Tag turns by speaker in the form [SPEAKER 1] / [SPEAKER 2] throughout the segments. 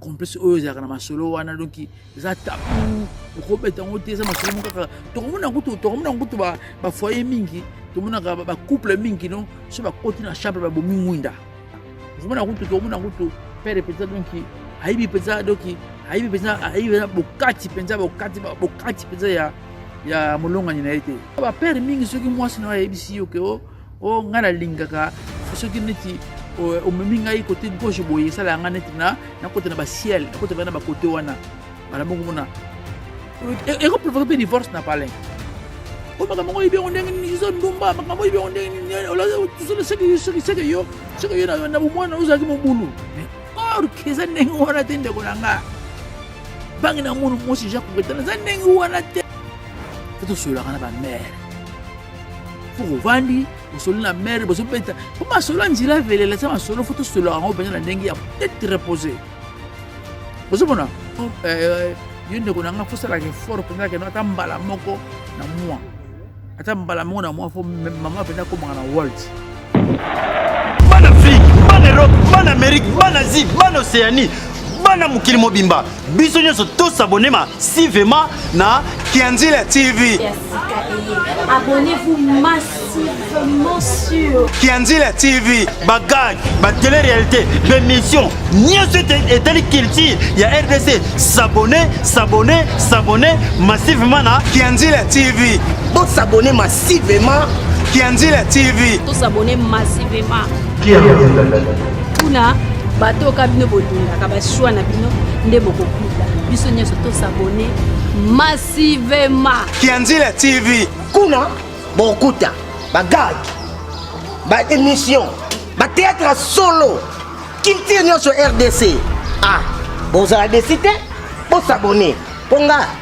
[SPEAKER 1] complexe oyo ezalaka na masolo wana donc eza tabu okobeta yango te eza masolo moko kaka tokomona kutu tokomona kutu bafoye mingi tomonaka bacouple mingi no so bakoti na chambre babomi mwinda okomona kutu tokomona kutu pere mpenza donc ayebi mpenza donc ayebi mpenza ayebi mpenza bokati mpenza bokati bokati mpenza ya ya molongani na ye te bapere mingi soki mwasi na yo ayebisi yo ke o oh, o oh, ngai nalingaka soki neti omemi ngai kote gauche boye esalaka ngai neti na nakota na basiel nakota bai na bakote wana bala moko mona ekoprovoke mpe divorce na palin o makambo oyebi yango ndenge nini iza ndumba makambo oyebi yango ndenge nini seke yo seke yo na bomwana ozalaki mobulu or eza ndenge wana te ndeko na ngai bangi na munu mwasi jacques bretana eza ndenge wana te tosololaka na bamare mpo ovandi osoli na mere bozobeta mpo masolo ya nzela evelela eza masolo fo tosololaka yango mpenza na ndenge ya tete repose ozomona euh, yo ndeko na ngai fosalaka effort mpenza keno ata mbala moko na mwa ata mbala moko na mwa fo mama mpenza akomaka na world
[SPEAKER 2] bana afrique bana europe bana amerique bana asie bana océanie bana mokili mobimba biso nyonso tosabonema sivema na kianzila tv
[SPEAKER 3] kianzila tv
[SPEAKER 2] bagage batele réalité bémission nyonso etali culture ya rdc sabone sabone sabone massivement na kianzila tv bosabone
[SPEAKER 4] Merci vraiment Kianzila
[SPEAKER 2] TV. To s'abonner
[SPEAKER 3] massivement. Kianzila.
[SPEAKER 4] Kuna bato ka bino
[SPEAKER 3] bolingaka ba choix na bino nde bokokuta. Biso nyonso to s'abonner massivement. Kianzila
[SPEAKER 2] TV. Kuna
[SPEAKER 4] bokuta ba gag, ba émission, ba théâtre solo. Culture nyonso RDC. Ah, bozala desite, bosabone. Ponga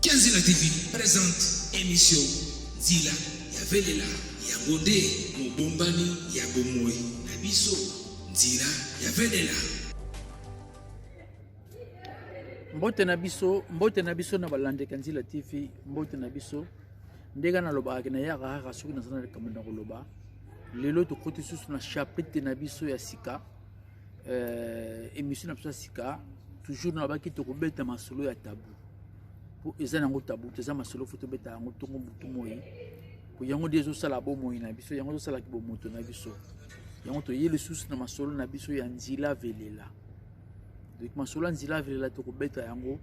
[SPEAKER 5] Kenzila TV presente emission Nzila ya Velela. Yango nde mobombani ya bomoi na biso, Nzila ya Velela.
[SPEAKER 1] mbote na biso mbote na biso na balandeki ya nzila tv mbote na biso ndenge nalobaka nayaka kaka soki naza na likambo na koloba lelo tokoti susu na chapitre na biso ya sika euh, émission na biso ya sika toujours nalobaki tokobeta masolo ya tabu mpo eza na yango tabu te eza masolo fo tobeta yango ntongo motu moi mpo yango nde ezosala bomoi na biso yango ezosalaki bomoto na biso yango toye lisusu na masolo na biso ya nzila velela donc masolo ya nzila velela tokobeta yango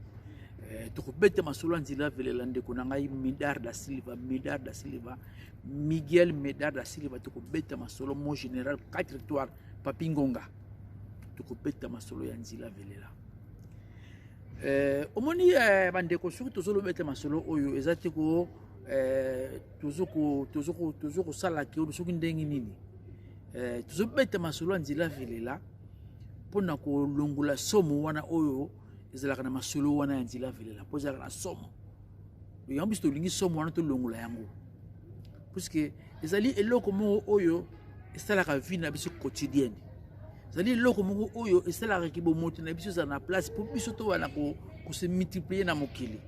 [SPEAKER 1] eh, tokobeta masolo ya nzila velela ndeko na ngai medar da silva medar da silva miguel medar da silva tokobeta masolo mon général 4 étoile Papi Ngonga, tokobeta masolo ya nzila velela. Eh, omoni eh, bandeko soki tozolobeta masolo oyo eza te ko eh, tozo kosala ke soki ndenge nini eh, tozobeta masolo ya nzela velela mpo na kolongola somo wana oyo ezalaka na masolo wana ya nzela velela mpo ezalaka na somo yango biso tolingi somo wana tolongola yango puisque ezali eloko moko oyo esalaka vie na biso quotidienne ezali eloko moko oyo esalaka ki bomoto na biso ezala na place mpo biso towana kose multiplie na mokili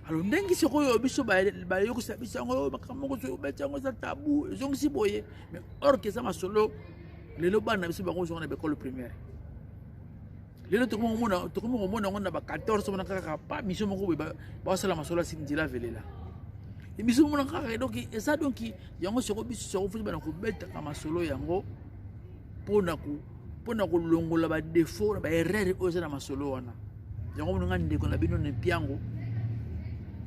[SPEAKER 1] alors ndenge sikoyo biso bayokisa biso yango oh, makambo moko soki obeti yango eza tabu ezongisi boye mais orke eza masolo lelo bana na biso bango ozonga na baekole primaire lelo tokomi komona tokomi komona yango na ba 14 omona kaka pa mission moko boye basala masolo ya sindila velela biso omona kaka donc eza donc yango soko biso soko foti bana kobetaka masolo yango mpona mpona kolongola badefaut na baerreur oyo eza na masolo wana yango mononga ndeko na bino na mpiango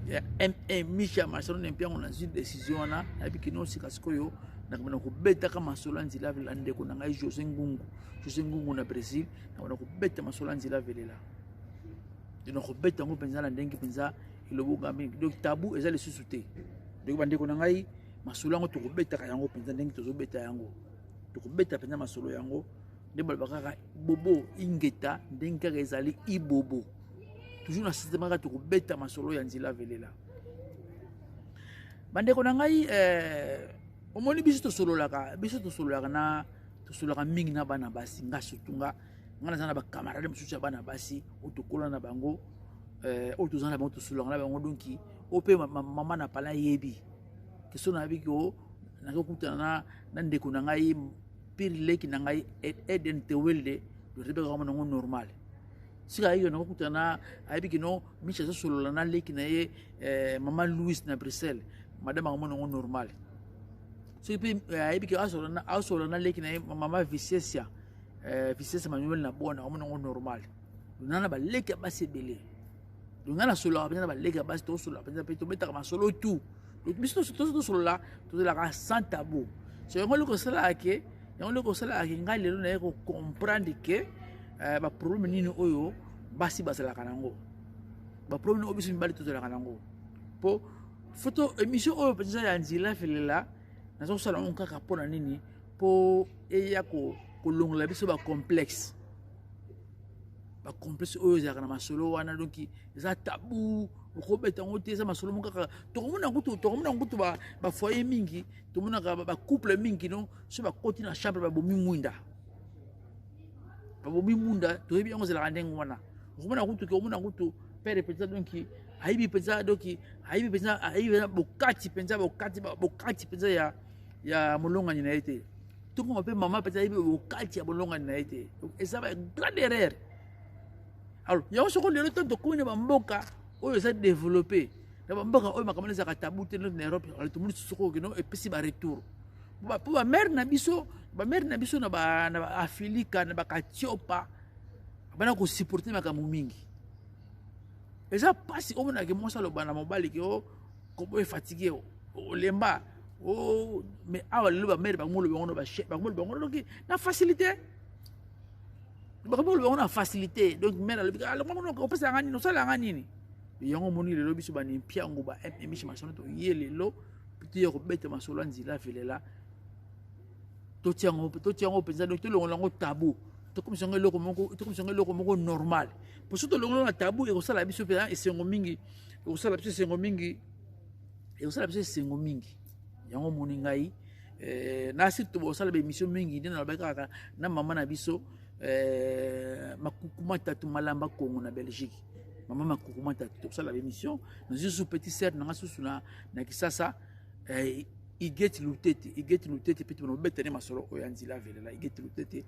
[SPEAKER 1] ya ma micha masolo na mpiango nazwi décision wana nayebi kino sika sikoyo nakobana kobetaka masolo ya nzela vela ndeko na ngai josé ngungu josé ngungu na brésil nakona kobeta masolo ya nzela velela nakobeta yango mpenza na ndenge mpenza elobonga mingi donc tabu eza lisusu te donc bandeko na ngai masolo yango tokobetaka yango mpenza ndenge tozobeta yango tokobeta mpenza masolo yango nde baloba kaka bobo ingeta ndenge kaka ezali ibobo toujours na systeme kaka tokobeta masolo ya nzela velela bandeko na ngai eh, omoni biso tosololaka biso tosololaka na tosolaka mingi na bana basi nga surtout nga nga naza na bacamarade mosusu ya bana basi oyo tokola na bango eh, oyo toza na bango tosolaka na bango donki oyo mpe mama na pala ayebi keso nayebi ke oh, nakokutana na ndeko na ngai pire leki na ngai eden tewelde torebeka kama nango normal sika ayeyo nakokutana ayebi kino miche azosolola na leki na ye eh, mama louis na bruxelles madame akomona yango normal soki mpe eh, ayebi ke asola na leki na ye mama vicesia eh, vicesia manuel na bona omona yango normal lona na baleki ya basi ebele lona nasololaka mpenza na baleki ya basi tosolola mpenza mpe tobetaka masolo tu biso tosolola tozalaka sans tabou so yango eloko esalaka ke yango eloko esalaka ke ngai lelo naye kocomprendre ke eh, baproblème nini oyo basi bazalaka nango baproblème oyo biso mibali tozalaka nango mpo foto emission oyo mpenza ya nzela felela nazosala yango kaka mpo na nini mpo eya kolongola biso bacomplexe bacomplexe oyo ezalaka na masolo wana donki eza tabu okobeta yango te eza masolo moko kaka tokomona kutu tokomona kutu bafoye mingi tomonaka bacouple mingi no so bakoti na chambre babomi mwinda babomi mwinda toyebi yango ezalaka ndenge wana okomona kutu ke omona kutu pere mpenza donki ayibi mpenza doki ayibi mpenza ayibi mpenza bokati mpenza bokati bokati mpenza ya ya molongani na ye te tokoma mpe mama mpenza ayibi bokati ya molongani na ye te eza ba grande erreur alors yango soko lelo ntango tokomi na bamboka oyo eza développe na bamboka oyo makambo na ezalaka tabu te na europe tomoni soko okino epesi baretour mpo bamare na biso bamare na biso na baafilika na bakatiopa bana kosupporte makambo mingi eza mpasi omona ke mwasi aloba na mobali ke o kobo efatigue olemba o mais awa lelo bamere bango olobi yango bango olobi yango noki na facilité bakomi olobi yango na facilité donc mere alobi alongo opesa nga nini osala yanga nini yango omoni lelo biso banimpiango ba mmishi masano toye lelo toye kobeta masolo ya nzila velela totia yango totia yango mpenza donc tolongola yango tabu tokomisa yango eloko moko tokomisa yango eloko moko normal mpo soki tolongola na tabu ekosala biso mpenza esengo mingi ekosala biso esengo mingi ekosala biso esengo mingi yango omoni ngai eh, na surtout bosala baemission mingi nde nalobaki kaka na mama na biso eh, makukuma tatu malamba kongo na belgique mama makukuma tatu tokosala baemission nazwi susu petit sere nanga susu na kisasa eh, igeti lutete igeti lutete mpe tobana kobeta nde masolo oyo ya nzila avelela igeti lutete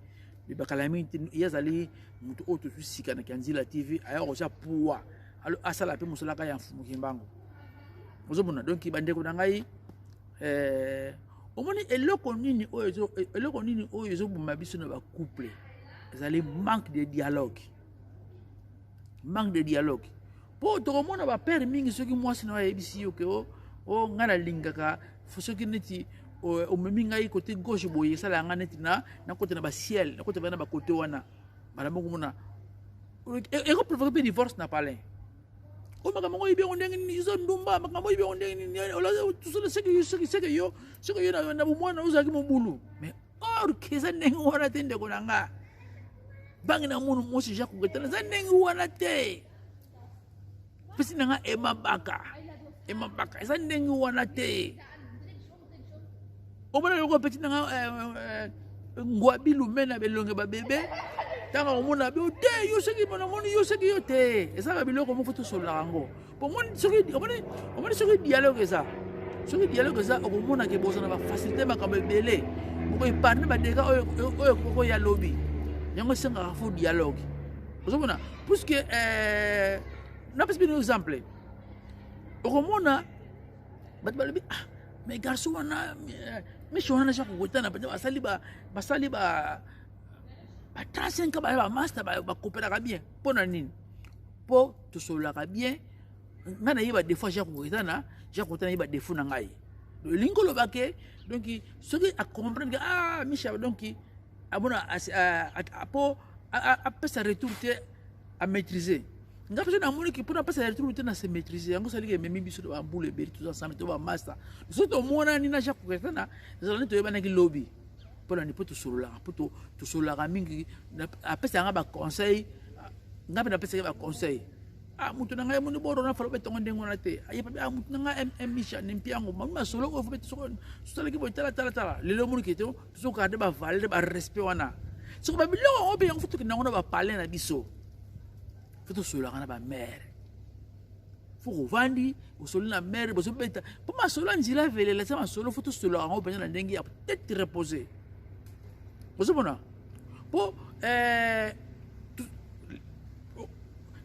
[SPEAKER 1] bibakala mingi te ye azali moto oyo tozwi sika na kianzila tv aya kotya puwa asala mpe mosala kaka ya mfumu kimbangu ozomona donk bandeko na ngai eh, omoni eloko nini oyo eloko nini oyo ezoboma biso na bacouple ezali manque de dialogue manque de dialogue mpo tokomona bapere mingi soki mwasi na yo ayebisi yo ke o oh, o oh, ngai nalingaka soki neti omemi ngai kote gauche boye esalaka ngai neti na nakota na basiel nakota bana bakote wana bana moko mona ekoprovoke mpe divorce na palin o oh, makambo yango oyebi yango ndenge nini eza ndumba makambo oyebi yango ndenge nini soki yo soki yo na bomwana ozalaki mobulu mais ork eza ndenge wana te ndeko na nga bange na mono mosi jacques ketana eza ndenge wana te pesi na nga emabaka emabaka eza ndenge wana te omona yoko peti na nga eh, eh, eh, ngwabi lume na belonge babebe ntango akomona be te yo soki mona moni yo soki yo te ezalaka biloko moko tosololaka yango omoni soki omoni omoni soki dialogue eza soki dialogue eza okomona ke bozana bafacilité makambo ebele okoepargne badega oyo ekokoki ya lobi yango esengaka fo dialogue ozomona puiske eh, napesi bino exemple okomona bato balobi ah mais garçon wana eh, miso wana naza kokotana mpenza basali basali ba 35 baya bamaster bakopelaka bien mpo na nini mpo tosololaka bien ngai nayeba defaut ya jacques eza na jacques ota nayeba defaut na ngai olingi oloba ke donc soki acomprendre ke ah michel donc amona mpo apesa retour te amaîtrise nga mpe namoni ke mpona apesa retour te na se maîtrise yango saliki ememi biso to bambula ebele toza ensemble to bamasta biso tomonani na jacques koketana ezalani toyebanaki lobi mpo na nini mpo tosololaka mpo tosololaka mingi apesaka nga baconseil nga mpe napesaki baconseil ah mutu na ngai moni boro na falo betongo ndenge wana te ayebabi ah mutu na ngai mm misha ne mpiango mami masolo oyo fo beti soko tosalaki boye talatalatala lelo omoni kete tozogarde bavalere barespect wana soko babiloko yango mpe yango fo tokenda yango na bapale na biso fo tosololaka na bamare foko ovandi osoli na mere bozobeta mpo masolo ya nzela velela eza masolo fo tosolo yango mpenza na ndenge ya tete repose ozomona mpo eh,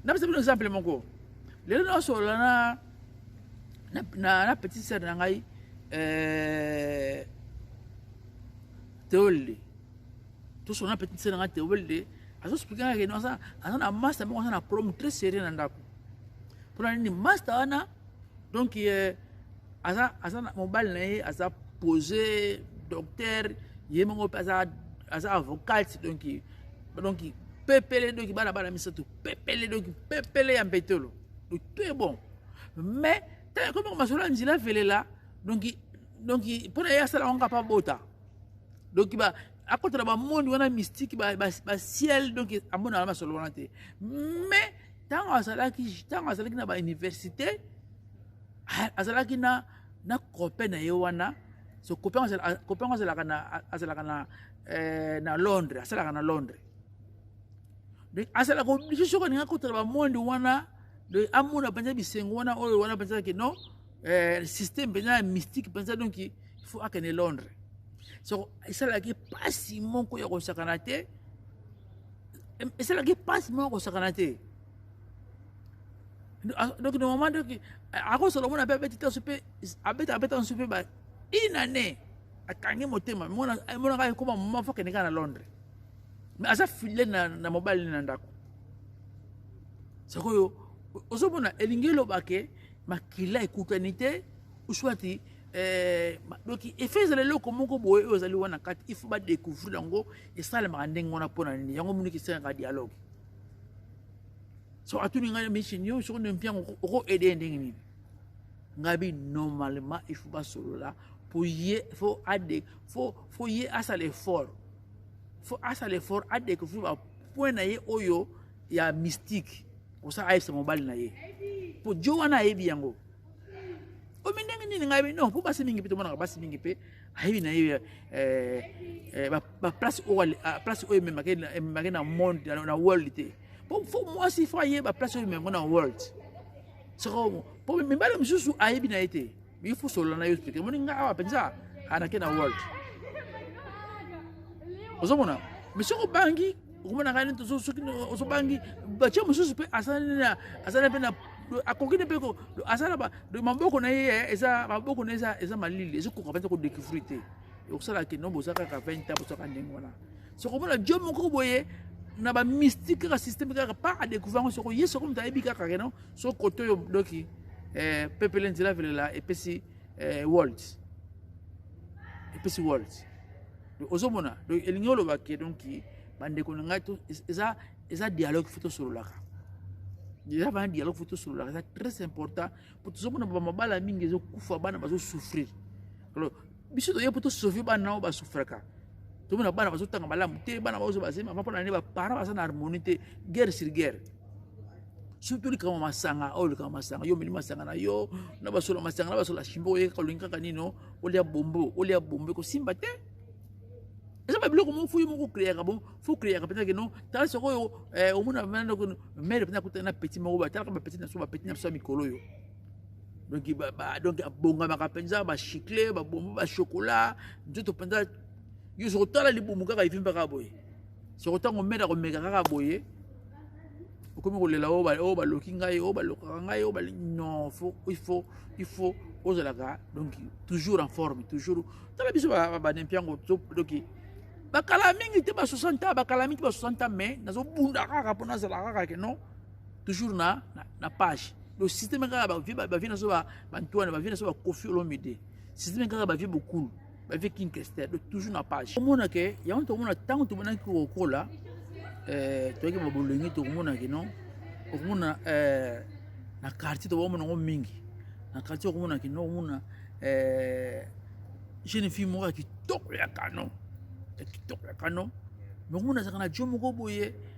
[SPEAKER 1] napesa bino exemple moko lelo naosolola na na, na, na petit sere na ngai eh, teole tosolo na petite sœur na nga Théobelde azo explique nga ke aza aza na master moko aza na problème très sérieux na ndako mpona nini master wana donc euh, aza aza na mobali na ye aza posé docteur ye moko mpe aza aza avocate donc donc pepele donc bana bana misato pepele donc pepele ya mbetolo donc tout est bon mais ntango ekomi koma solo ya nzela velela donc donc mpona ye asala yango kapa bota donc ba akotala bamondi wana mystique basiel donc amonaka masolo wana te mais ntango azalaki ntango azalaki na bauniversité azalaki na na copain na ye wana so copain yango azalaka na azalaka na eh, na londres asalaka na londres donc asalaka oblige soki alinga kotala bamondi wana donc amona mpenza bisengo wana oyo wana mpenza ke non eh, système mpenza ya mystique mpenza donc il faut akende londres soko esalaki mpasi moko ya kosakana te esalaki mpasi moko ya kosakana te donc no moment donc akosolo mona mpe abeti tanso mpe abeta abeta nso mpe ba une année akangi motema monaka ekoma moma fo akende kaka na londres mais aza file na, na mobali na ndako sikoyo ozomona elingi eloba ke makila ekutani te uswati eh, donc efe ezala eloko moko boye oyo ezali wana kati il faut badécouvrir yango esalemaka ndenge wana mpo na nini yango moniki esengaka dialogue so atuni ngai mission yo soko nde mpiango oko aide ye ndenge nini ngai bi normalement il faut basolola mpo ye fo ade fo fo ye asala effort fo asala effort adécouvrir bapoint na ye oyo ya mystique kosala ayebisa mobali na ye mpo jo wana ayebi yango omi ndenge nini ngai non mpo basi mingi mpe tomonaka basi mingi mpe ayebi na ye eh, eh, baplace ah, oyo ememake na monde na world te mpo fo mwasi fo ayeba place oyo ememako na world soko mpo mibale mosusu ayebi na ye te il faut solola na yo explike omoni ngai awa mpenza anake na world ozomona mais soki obangi okomona ngai neti soki ozobangi batie mosusu mpe azali mpe na akoki ne mpe azala maboko na ye eza maboko na ye eza malili ezokoka mpenza kodécouvrir te okosala kino boza kaka 20 ans bozaka ndenge wana sokomona jo moko boye na bamystique kaka systeme kaka pa adécouvrir yango soko ye soko moto ayebi kaka keno so koto yo doki eh, pepele nzela velela epesi eh, world epesi world ozomona donc elingi oloba ke donc bandeko na ngai eza eza dialogue fo tosololaka eza bana dialogue fo tosololaka eza très important po tozomona bamabala mingi ezokufa bana bazosouffrir alors biso toye mpo tosauve bana nao basufraka tomona bana bazotanga malamu te bana baozo bazemi avant mpona nde baparent baza na harmonie te guerre sur guerre surtout likambo masanga oyo oh, likambo masanga yo omeli masanga na yo na basola masanga na basola shimbo oyekaka olingi kaka nino olia bombo olia bombo ekosimba te eza babiloko moko fuyo moko okreaka bon fo okreaka mpenza keno tala sikoyo eh, omona mere mpenza akutana na peti moko batalaka bapeti na biso bapeti na biso ya mikolo oyo donc ba, ba, donc abongamaka mpenza bachiclet babombo bachokola nzoto mpenza yo soko otala libumu kaka evimba kaka boye soko ntango mene akomeka kaka boye okomi kolela oyo oh, oh, baloki ngai oyo oh, balokaka ngai oyo balingi non faut il faut il faut ozalaka donc toujours en forme toujours tala biso banempiango donc bakala mingi te ba 60 ans bakala mingi te ba 60 ans mais nazobunda kaka mpo nazala kaka ke non toujours na, na, na page donc systeme kaka bavie bavie na so bantuana bavie na so bakofi olomide systeme kaka bavie bokulu bavie king kester donc toujours na page omona ke yango tokomona ntango tomonaki kokola eh, toyaki babolenge tokomona ke non okomona eh, na quartier tokomona yango mingi na quartier okomona ke non okomona eh, jeune fille moko ya kitoko ya kano ya kitoko ya kano mais okomona azalaka na jo moko boye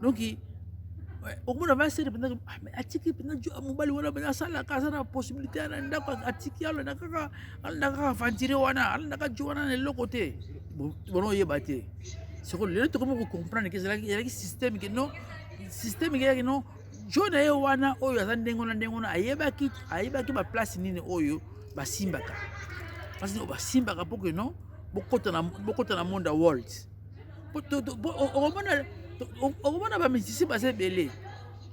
[SPEAKER 1] donc okomona vasere mpenza atiki mpenza mobali wana mpenza asalaka aza na possibilité ana ndako atiki alanda kaka alanda kaka aventire wana alanda kaka jo wana na eloko te bona oyeba te soko lelo tokomi kocomprendre ke ezalaki système ke non système ekeyaki non jo na ye wana oyo aza ndenge wana ndenge wana ayebaki ayebaki baplace nini oyo basimbaka place nini oyo basimbaka mpo ke non bokota na monde ya world okomona bamisisi baza ebele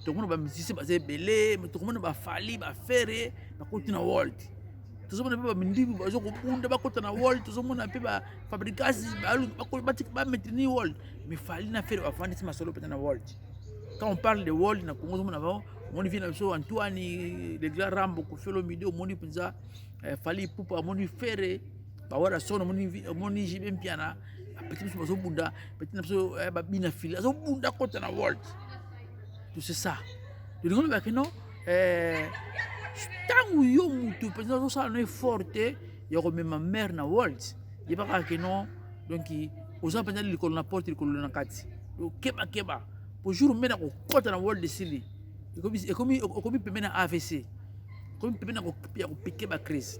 [SPEAKER 1] tokomona bamisisi baza ebele tokomona bafali bafere bakoti na world tozomona mpe bamindimi bazo kobunda bakota na world tozomona mpe bafabrikasi bametrini world mifali na fere bafandisi masolo mpenza na world quand on parle de world na congo ozomona bao omoni vie na biso antoine legla rambo kofiolo midi omoni mpenza eh, fali ipupa omoni fere ba wara son omoni omoni jibe mpiana bapeti biso bazobunda peti na biso eh, babina fili azobunda kota na world tout c'est ça tolingi oloba kino ntango eh, yo motu mpenza azosala no effort te ya komema mare na world yeba kaka kino donc oza mpenza likolo na porte likolo na kati okebakeba po jour mpe na kokɔta na world esili ekomi pembe na avc ekomi pembe ya kopike bacrise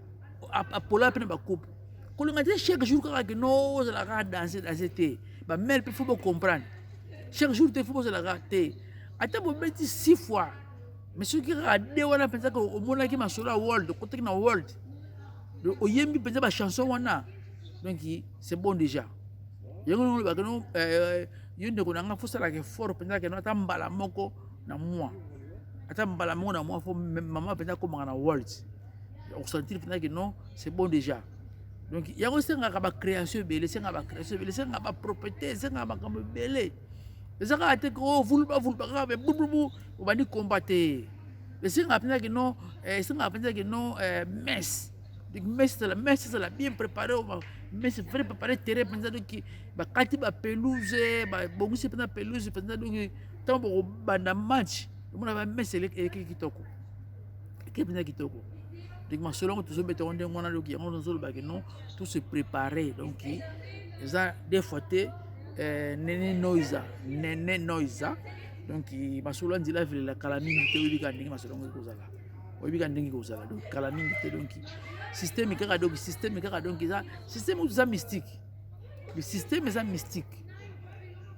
[SPEAKER 1] apola mpe na bakupe kolinga te chaque jour kaka ke no ozalaka danse danse te bamele mpe fo bocomprendre chaque jour te fo bozalaka te ata bobeti six fois mais soki kaka de wana mpenza omonaki masolo ya world okotaki na world oyembi mpenza bachanson wana donc c'est bon déjà yango ndenge olobaka no euh, yo ndeko na ngai fosalaka effort mpenza keno ata mbala moko na mwa ata mbala moko na mwa fo mama mpenza akomaka na world okosentir mpena ke non c'est bon déjà donc yango esengaka bacréation ebele esengaka bacréation ebele esengaka bapropriété esengaka makambo ebele eza kaka te ko vuluba vuluba kaka me bububu obandi komba te esengaka mpenza ke non eh, esengaka mpenza ke non eh, messe messe ezala messe ezala bien préparé messe vrai préparé terrain mpenza doki bakati bapelouse babongisi mpenza pelouse mpenza doki ntango bokobanda match omona bamesse elekeki kitoko eke mpenza kitoko donc masolo yango tozobeta yango ndenge wana doki yango nazoloba ke non tout se préparer donc eza des fois te eh, nene noisa nene noisa donc masolo ya nzela avelela kala mingi te oyebi kaka ndenge masolo yango ekozala oyebi kaka ndenge ekozala donc kala mingi te donc systeme kaka donc systeme kaka donc eza systeme oyo eza mystique le système eza mystique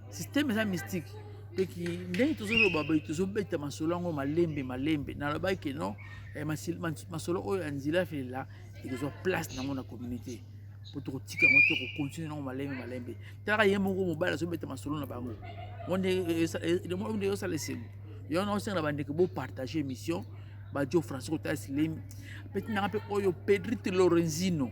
[SPEAKER 1] système eza mystique peki ndenge tozoloba boye tozobeta masolo yango malembe malembe nalobaki ke non eh, masolo oyo ya nzela felela ekozwa place nango na communauté mpo tokotika yango te kokontinue nango malembe malembe talaka ye moko mobali azobeta masolo na bango onde osala esengo yango na osenga na bandeko bopartage émission badio français kotalisa lemi peti nanga mpe oyo pedrite lorenzino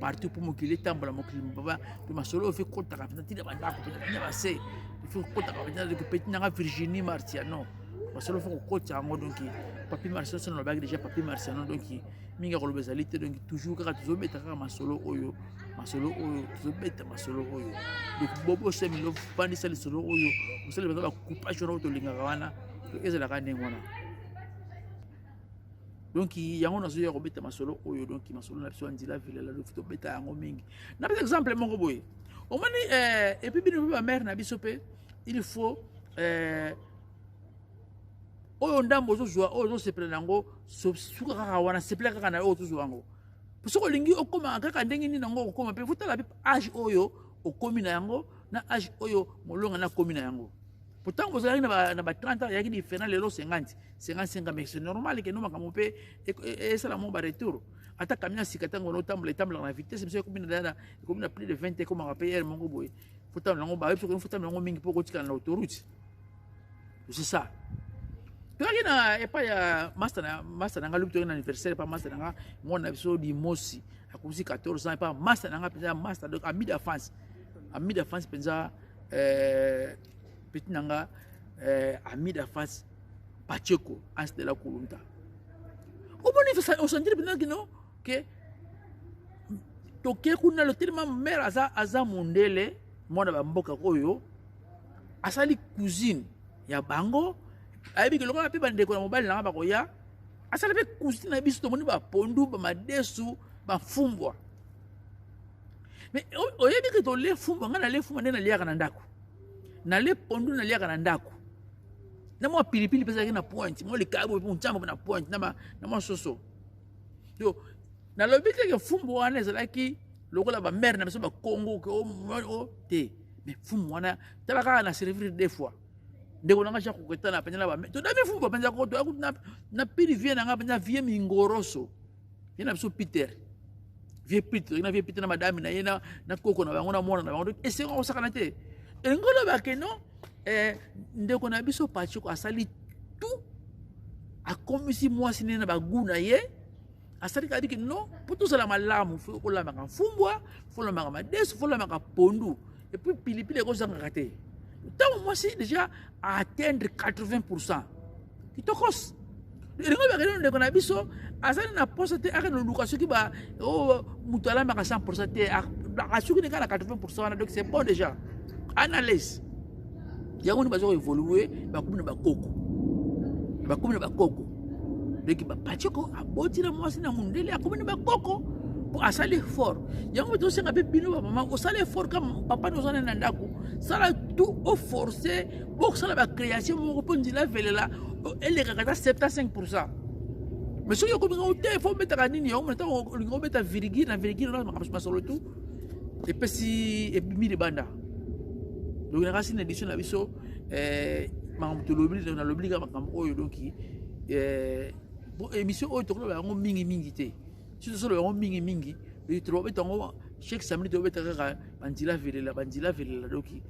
[SPEAKER 1] partout mpo mokili etambola mokili mobaba mpe masolo oyo ekotaka mpenza ntina bandako mpenza ntina base efi kokotaka mpenza ndeko mpe ntinanga virginie martiano masolo fo kokotisa yango donk papier martiano soki nalobaki déjà papier martiano donk mingi ya koloba ezali te donk toujours kaka tozobeta kaka masolo oyo masolo oyo tozobeta masolo oyo donc bobo semilo vandisa lisolo oyo osali baza bacoupage wana oyo tolingaka wana ezalaka ndenge wana donc yango nazoya kobeta masolo oyo donc masolo na biso ya nzela vilela lofi tobeta yango mingi na beta exemple moko boye omoni eh, epuis bino mpe bamare na biso mpe il faut eh, oyo ndambo ozozwa oyo ozosepela na yango suka kaka wana sepela kaka na oyo ozozwa yango po soki olingi okoma kaka ndenge nini yango okokoma mpe fotala mpe age oyo okomi na yango na age oyo molonga na akomi na yango po ntango bozalaki na ba 30 ans yaki diferent lelo 50 senga senga mais c'est normal que no makambo mpe esala mo baretour ata camion ya sika ntango otambola etambolaka na vitesse biso ekomi na ekomi na plus de 20 ekomaka mpe heure moko boye fotambola yango bayebi soki fotambola yango mingi mpo okotikala na autoroute c'est ça toyaki na epai ya masta na nga lobi toyaki na anniversaire epai masta na nga mwana na biso limosi akomisi 14 ans epai masta na nga mpenza masta donc ami de france ami de france mpenza euh, petit na nga euh, ami de france Pacheco as de la Kulunta. Au bon niveau, on s'en dit maintenant que non, que toke kuna le tellement mère aza aza mondele mwana ba mboka oyo asali cousine ya bango ayebi ke lokola mpe bandeko na mobali nanga bakoya asala mpe cousine na biso tomoni bapondu bamadesu bafumbwa mais oyebi ke tole fumbwa ngai nale fumbwa nde naliaka na ndako nale pondu naliaka na ndako na mwa pilipili mpe ezalaki na pointe mwa likabo mpe ncambo mpe na pointe na mwa soso yo nalobi teke fumbu wana ezalaki lokola bamare na biso bakongo ke o oh, te mais fumbu wana tala kaka na servir deux fois ndeko nanga jacques koketana mpenza na bamare todami fumbu mpenza koto na pili vie nanga mpenza vie mingoroso ye na biso peter vie peter na vie peter na madame na ye na koko na bango na mwana na bango esengo kosakana te elingi oloba ke non eh, ndeko na biso pachiko asali tout akomisi mwasi nene na bagu na ye asali kaka biki non mpo tozala malamu fo olamaka mfumbwa fo olamaka madesu fo olamaka pondu epuis pilipili ekozangaka te ntango mwasi déjà atteindre 80 pourcent kitokos elingo bakeli ndeko na biso azali na posa te ake noluka soki ba oh, moto alambaka 100 pourcent te asuki nika na 80 pourcent wana donc c'est bon déjà analyse yango nde bazoka évolue bakomi na bakoko bakomi na bakoko donc bapaceko aboti na mwasi na mondele akomi na bakoko mpo asali effort yango tosenga mpe bino bamama osala effort kama papa nozana na ndako sala tout oforce bokosala bacréation moko mpo nzela avelela elekaka ata 75 pourcent mais soki okominga ote fo obetaka nini yango ntango olingi obeta virgile na virgile na makambo masolo tu epesi ebimi libanda donc na kasi na édition na biso eh, makambo tolobi nalobi kaka makambo oyo donki eh, émission oyo tokoloba yango mingi mingi te soki solo yango mingi mingi tobeta yango chaque samedi tobeta kaka banzila velela banzila velela doki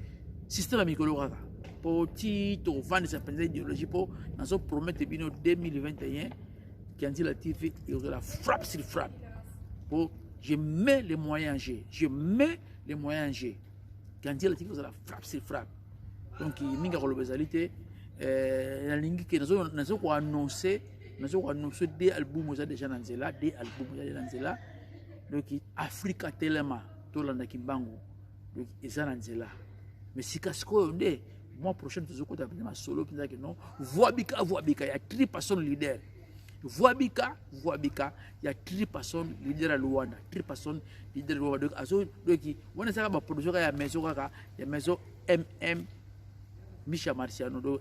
[SPEAKER 1] système ya mikolo kaka mpo ti tovandisa mpenza idéologie mpo nazo promete bino 2021 kianzila tv ekozala frappe sur frappe mpo je mets les moyens je je mets les moyens je kianzila tv ekozala frappe sur frappe donc mingi akoloba ezali te eh, nalingi ke nazo koannonce nazo ko annonce de album oza déjà na nzela de album oza na nzela donc afrika telema tolanda kimbangu donc eza na nzela mais sika sikoyo nde mois prochaine tozokota mpenza masolo mpenza ke non voabika voabika ya tri person leader voabika voabika ya tri person leader ya luanda tri person leader ya luanda donc azo doki wana ezaka baproduction kaka ya maison kaka ya maison mm misha marciano do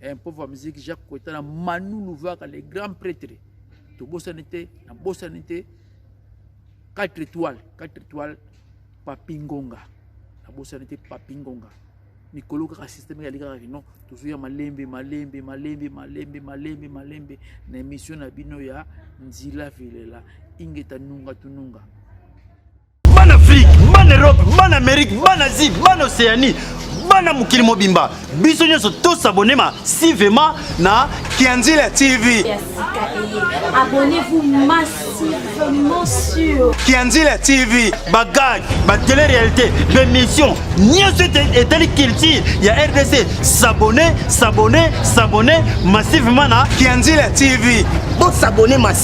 [SPEAKER 1] eh, mpo va musique jacques koeta na manu luvaka le grand prêtre tobosani te nabosani te 4 étoile 4 étoile papi ngonga nabosani te papi ngonga mikolo kaka systeme yali kaka kino tozoya malembe malembe malembe malembe malembe malembe na émission na bino ya nzila velela ingeta nunga tununga
[SPEAKER 6] bana afrique bana europe bana amerique bana asie bana océanie bana mokili mobimba biso nyonso tosabone masivema na kianzila tv ya
[SPEAKER 2] sika eye abonnez-vous
[SPEAKER 3] massivement sur kianzila tv
[SPEAKER 2] bagag
[SPEAKER 6] batele réalité bémission nyonso ete- etali culture ya rdc sabone sabone sabone massivement na kianzila tv
[SPEAKER 2] bosabone
[SPEAKER 4] masi